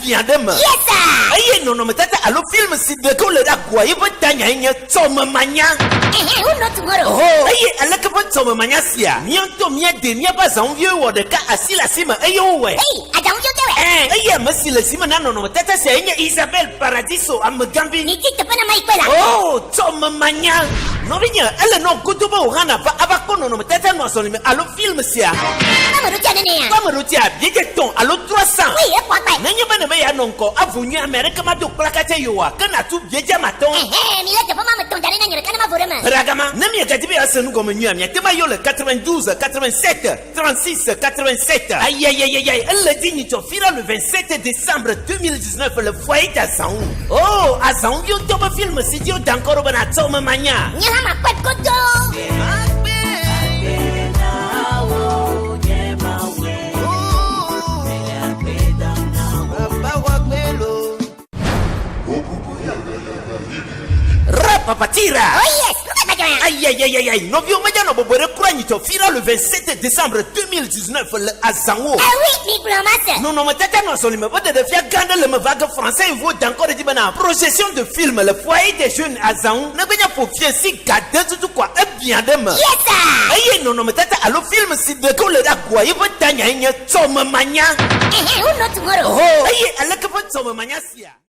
biã ɖe eme. Yesa! Eye nɔnɔmetata alo film si ɖe ke wole ɖe agboa ye ƒe tanyae nye Tsɔmemanya. Ehe, who not tomorrow. Ho! Eye aleke ƒe tsɔmemanya sia? Mía ŋutɔ míadee míaƒe azaŋuviwoe wɔ ɖeka asi le asi me eye wowɔe. Heyi, azaŋuvio ke wɔe. Ɛ̃, eye ame si le zi me na nɔnɔmetata siae nye Isabel Paradiso, amegãvi. Midi teƒe na mayi kpɔe la. Oo, tsɔmemanya! Nɔvinye, ele nɔ godoo be wò hã nàva ava kpɔ nɔnɔmetata nɔ azɔli me alo Film sia. Kpɔ ame ɖotia nene ya. Kpɔ ame ɖotia biedze tɔn alo trɔ san. Woi ekpɔ akpae. Nenye be nebe ya nɔ ŋkɔ avo nyuie ame aɖeke ma do kplaka tse yo wa ke na tu biedze ama tɔn. Ɛhɛ mi le teƒe ma me tɔn da ɖe na nye ɖeka ne ma vo ɖe eme. Ƒera gama. Ne mia gadi be ya se nu gɔme nyuie a mia te ma yo le 92 87 36 87. Ayayayayay ele dzi nyi tsɔ fira le 27 decembre 2017. Snap le fɔye de azãwo. Oh, azãwo yo dɔ be film si dzi woda ŋkɔ ɖo be nàtsɔ eme manya. Nye hã makpɔe godoo. Rapapatira! Oh yes, Ayayayayay, nɔviwo meganɔ bɔbɔe ɖe kura nyitsɔ fira le 27 décembre 2010. 19 le azãwo. Eh oui, migblɔ ma se. Nɔnɔmetata nɔ azɔlime ƒe ɖeɖefia gã aɖe le eme va ge Français info da ŋkɔ ɖe edzi bena projection de film le Foyer des jeunes azãwo negbe nye fofie si ga de tutu koa ebiã ɖe eme. Ye ta. Eye nɔnɔmetata alo film si ɖeke wole ɖe agua ye ƒe tanyae nye Tsɔmemanya. Ehe, who know tomorrow. Ohoo, eye aleke ƒe tsɔmemanya sia.